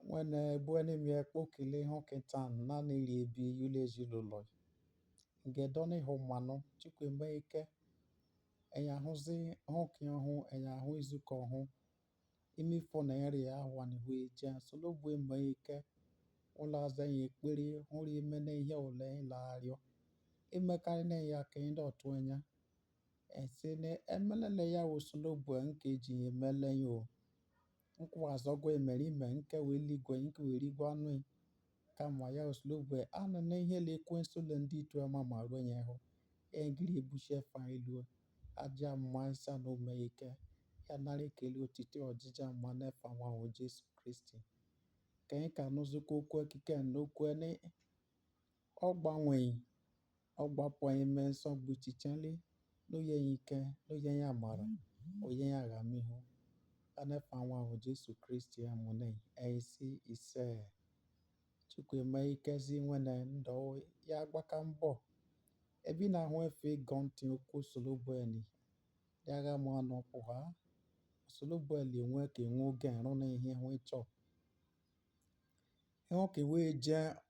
Nwene bụ enyi m ya kpokili hụ kịta na n'ili ebi ule ezi le ụlọ i. Nge dọnị hụ mmanụ chukwu eme ike. Enya hụzị hụ nke ọhụ, enya hụ izuka ọhụ. Ime ifọ na eri ahụa nị hụ eje. Osolobue eme ike. Ụlọ aza ya ekpere hụ ri ime na ihe ole ịla arịọ. Emekarị ne ya ka ị dọ tụ enya. Ese ne emelele ya wụ Osolobue nke eji ya emele ya o nkwa azọgwa emerime nke wee ligwe nke wee rigwe anụ i kama ya wụ Osolobue anana ihe le ekwensu le ndị itu ama ma ruo nye hụ egiri ebushi efa i elu aja mma isa na ome ike ya nara ekele otito ọjịja mma n'efa nwa wụ Jesu Kristi ka anyị ka nụzikwa okwu kiken okwu ni ọ gbanwe i Ọ gbapụ i ime nsogbu ichichen le n'oye ya ike, n'oye ya amara, oye ya agamihu. Anefa nwa wụ Jesu Kristi amụ ne enyi si ise. Chukwu eme ikezi nwene ndọ ya gbaka mbọ. Ebi na ahụ efe ịgọ ntị okwu Osolobue ni. Ya gha m ọnụ pụha. Osolobue le enwe ka enwe oge nrụ na ihe hụ ị chọ. Enwe ka enwe je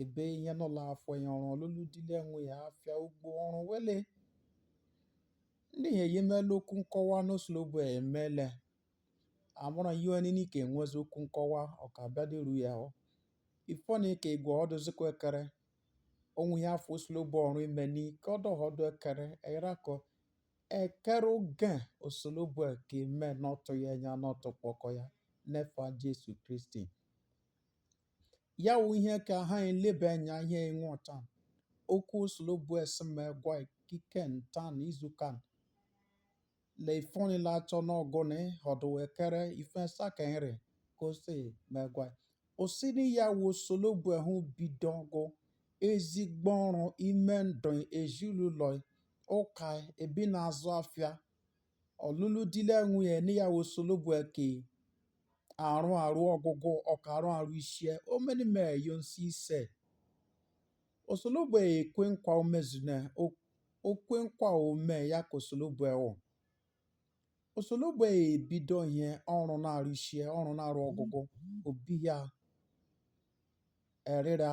Ebe ihe nọ la afọ ya ọrụ ọlụlụ di le nwunye afịa ugbo ọrụ wele. Ndị ihe yi mele okwu nkọwa n'Osolobue emele. Amụrụ ihe onye n'ike enwezi okwu nkọwa ọ ka abịa dịru ya ọ. Ifọ ni ka egwụ ọdụ zikwa ekere. Onwe ya afọ Osolobue ọrụ ime ni ka ọ dọ họdụ ekere ere akọ. Ekere oge Osolobue eke eme n'ọtụ ya enya n'ọtụ kpọkọ ya. Nefa Jesu Kristi. Ya wụ ihe ka ha elebe enya ihe enweta okwu Osolobue si m egwa i kiken tan izukan le ifoni la achọ n'ọgwụ ni ọdụ ekere ifọn esa ka enyi rị ka o si megwa osini ya wụ Osolobue hụ bidogwụ ezigbo ọrụ ime ndụ i ezi le ụlọ i ụka ebe na-azụ afịa ọlụlụ di le nwunye ni ya wụ Osolobue eke arụ arụ ọgụgụ ọka arụ arụ isie omeni mee yo nsi ise Osolobue ekwe nkwa omezune okwe nkwa ome ya ka Osolobue wụ Osolobue ebido ihe ọrụ na-arụ isie ọrụ na-arụ ọgụgụ obi ya erịra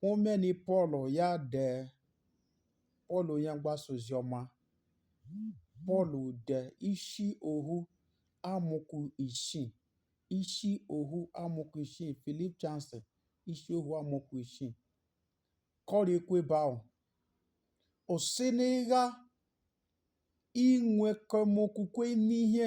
Hụ omeni Pọl ya dee Pọl onye mgbasa ozi ọma Pọl dee isi ohu amaokwu isii isi ohu amaokwu isii Philippians isi ohu amaokwu isii ka ọ rị ekwu ebe ahụ o si n'ịgha enwekọ m okwukwe n'ihe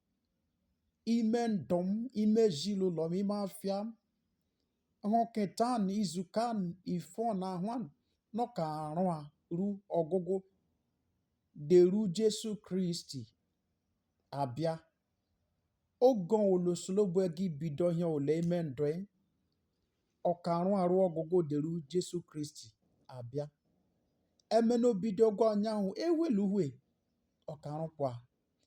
ime ndụ m, ime ezinụlọ m, ime afịa m, họketan, izukan, ifọn, ahụan, ọ ka arụ arụ ọgụgụ deru Jesu Kristi abịa. Oge ole Osolobue gi bido ihe ole ime ndụ ị, ọ ka arụ arụ ọgụgụ deru Jesu Kristi abịa. Emena o bidogwọ anyanwụ eweluwe, ọ ka arụkwa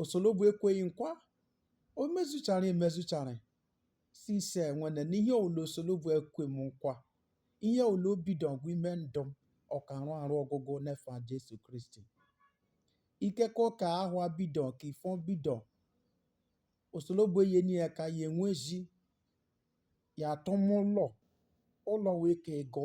Osolobue ekwe gị nkwa, o mezucharị emezucharị sị ise nwene na ihe ọwụla Osolobue ekwe m nkwa, ihe ọwụla o bidogwọ ime ndụ m, ọ ka arụ arụ ọgụgụ n'efa Jesu Kristi. Ikekọ ka ahụa bido ka ifọ bido, Osolobue eyeni ya eka ya enwezi ya atụma ụlọ, ụlọ wee ka agụ.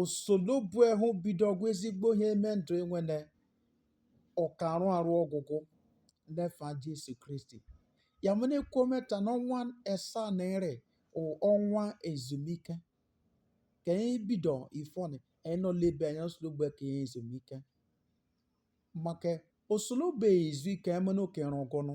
Osolobue hụ bidogwọ ezigbo ihe ime ndụ ị nwene ọ ka arụ arụ ọgụgụ n'efa Jesu Kristi ya mene kwometa n'ọnwa esa na ere ọnwa ezumike ka anyị bido ifọni anyị nọ lebe anya Osolobue ka eye ezumike maka Osolobue ezu ike emene oke rụgụnụ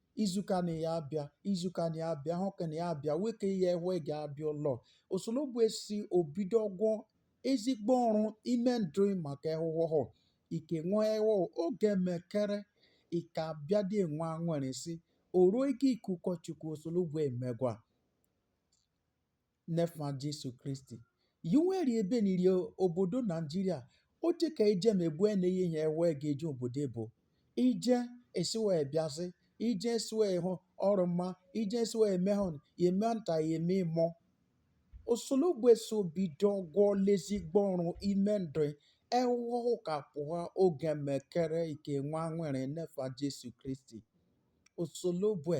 izuka na ya abịa izuka na ya abịa hụ ka na ya abịa nwoke ya ewe ga abịa ụlọ Osolobue sị o bidogwọ ezigbo ọrụ ime ndụ maka ehụhụhụ ike nwa ewo oge mekere ị ka abịa dị nwa nwere si oruo ike ikuku Chukwu Osolobue emegwa n'efa Jesu Kristi. Yi wee rị ebeni rị obodo Naijiria o teka ije ma ebu ene ihe ihe wee ga eje obodo ebo. Ije esi wee bịazi, ije esi wee hụ ọrụ mma, ije esi wee mee hụ ya eme nta ya eme imo. Osolobue sị o bidogwọla ezigbo ọrụ ime ndụ ehụhụ ka pụha oge mekere ike nwa nwere n'efa Jesu Kristi. Osolobue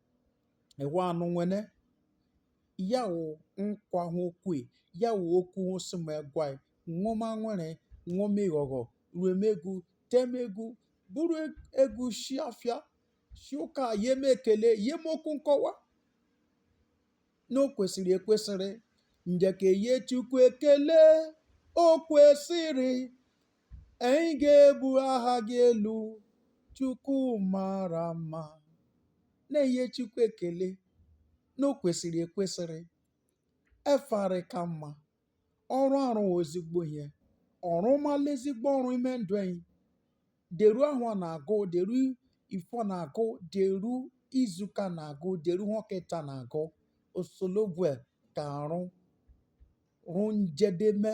Ewa no nwene, ya wụ nkwa hụ o kwe, ya wụ okwu hụ o sị me gwa ị nwọma nwere nwọma ịghọghọ ruem egwu tem egwu bụrụ egwu shi afịa shi ụka yem ekele yem okwu nkọwa na o kwesịrị ekwesịrị njeke ye Chukwu ekele o kwesịrị Anyị ga-ebu aha gị elu Chukwu mara mma na-enye Chukwu ekele na o kwesịrị ekwesịrị efa rị ka mma ọ rụ arụ ezigbo ihe ọ rụmala ezigbo ọrụ ime ndụ anyị deru ahụa na-agụ deru ifọ na-agụ deru izuka na-agụ deru họkịta na-agụ Osolobue ka arụru njedeme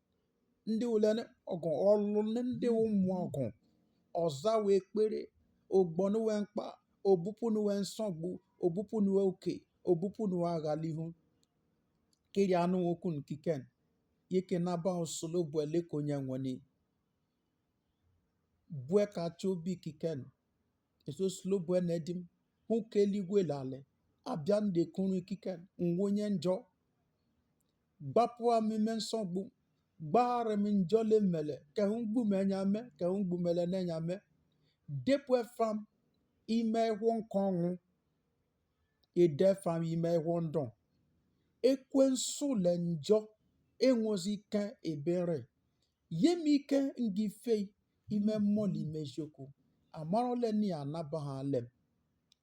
ndị ole ọgụ ọlụ ndị ụmụ ọgụ ọ za we ekpere o gbo nu we mkpa o bupu nu we nsogbu o bupu nu we uke o bupu nu we aghalihu kiri anụ okwu ni kiken yeke nabaha Osolobue leke onye nwe i bu eka ti obi kiken sị Osolobue nedi m hụ ke eluigwe le ale abịa m de kuru kiken m wụ onye njọ Gbapụa m ime nsogbu, gbaghara m njọ ile m mele ke hụ m gbume enya me ke hụ m gbumeleni enya me. Depụ efa m ime ehụhọ nke ọnwụ, i de efa m ime ehụhọ ndụ. Ekwensu le njọ enwezi ike ebe m rị. Ye m ike m gi fe i ime mmụọ le ime eziokwu. Amara ole ni anabahale m.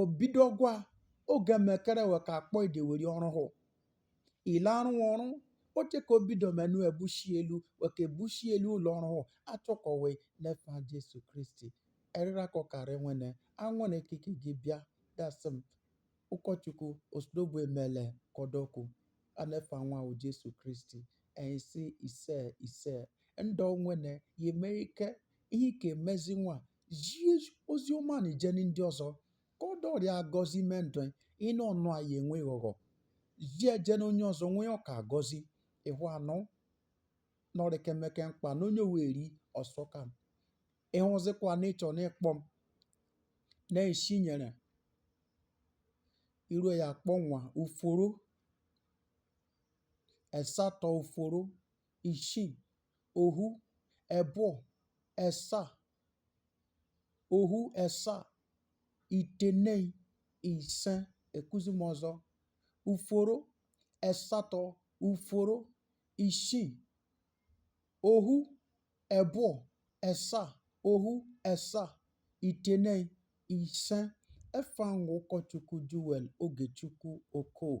obido gwa oge mekere we ka akpọ i de weri ọrụ hụ ile arụ ọrụ oche ka obido menu ebushi elu we ka ebushi elu ụlọ ọrụ hụ achọkọ we n'efa Jesu Kristi erịra ka ọ kara nwene anwene ike i ke gi bịa dasị m ụkọchukwu Osolobue emele kọ dọ kwu a n'efa nwa wụ Jesu Kristi anyị sị ise ise ndọ nwene ye eme ike ihe i ke emezi nwa zie ozi ọma ni jeni ndị ọzọ ka ọ dọ rị agọzi ime ndụ ịnụ ọnụ anyị enwe ghọghọ zie jeni onye ọzọ nwee ọ ka agọzi ịhụ anụ na ọ rị kemeke mkpa na onye weri ọsọ ka m ịhụzikwa na ịchọ na ịkpọ m na-esi nyere iru ya akpọ nwa uforo esatọ uforo isii ohu ebụọ, esa, ohu esa, itenei, ise, ekuzi m ọzọ, uforo esatọ, uforo isii, ohu ebụọ, esa, ohu esa, itenei, ise. Efa m wụ ụkọchukwu Joel Ogechukwu Okoh.